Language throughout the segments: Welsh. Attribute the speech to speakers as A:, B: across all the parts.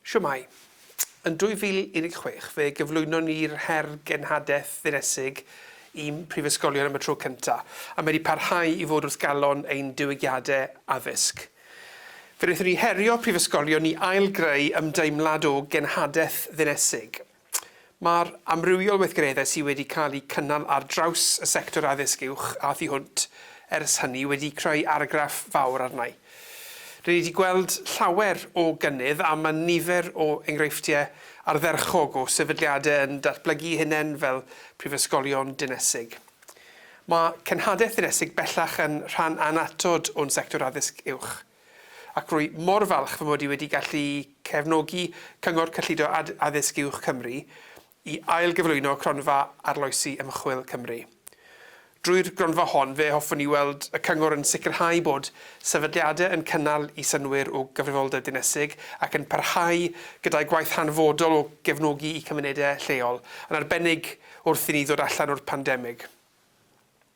A: Shwmae. Yn 2016 fe gyflwynon ni'r her genhadaeth ddinesig i'm prifysgolion am y tro cynta, a mae wedi parhau i fod wrth galon ein diwygiadau addysg. Fe wnaethon ni herio prifysgolion i ail-greu ymdeimlad o genhadaeth ddinesig. Mae'r amrywiol weithgareddau sydd wedi cael eu cynnal ar draws y sector addysg uwch a thu hwnt ers hynny wedi creu argraff fawr arna'i. Rŷn ni wedi gweld llawer o gynnydd a mae nifer o enghreifftiau ardderchog o sefydliadau yn datblygu'u hunain fel prifysgolion dinesig. Mae cenhadaeth ddinesig bellach yn rhan annatod o'n sector addysg uwch. Ac rwy mor falch fy mod i wedi gallu cefnogi Cyngor Cyllido Addysg Uwch Cymru i ail-gyflwyno Cronfa Arloesi Ymchwil Cymru. Drwy'r gronfa hon, fe hoffwn i weld y Cyngor yn sicrhau bod sefydliadau yn cynnal i synnwyr o gyfrifoldeb dinesig ac yn parhau gyda'i gwaith hanfodol o gefnogi i cymunedau lleol, yn arbennig wrth i ni ddod allan o'r pandemig.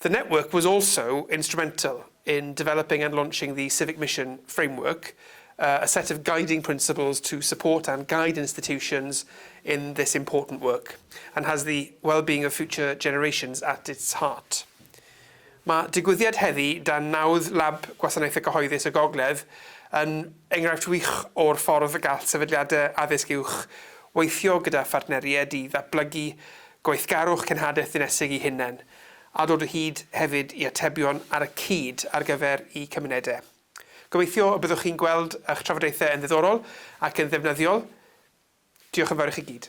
A: The network was also instrumental in developing and launching the Civic Mission Framework, a set of guiding principles to support and guide institutions in this important work, and has the well-being of future generations at its heart. Mae digwyddiad heddi dan nawdd Lab Gwasanaeth y Cyhoeddus y Gogledd yn enghraifft wych o'r ffordd y gall sefydliadau addysg uwch weithio gyda phartneriaid i ddatblygu Gweithgarwch cenhadaeth ddinesig i hunain, a dod o hyd hefyd i atebion ar y cyd ar gyfer y cymunedau. Gobeithio y byddwch chi'n gweld ych trafodaethau yn ddiddorol ac yn ddefnyddiol. Diolch yn fawr i chi gyd.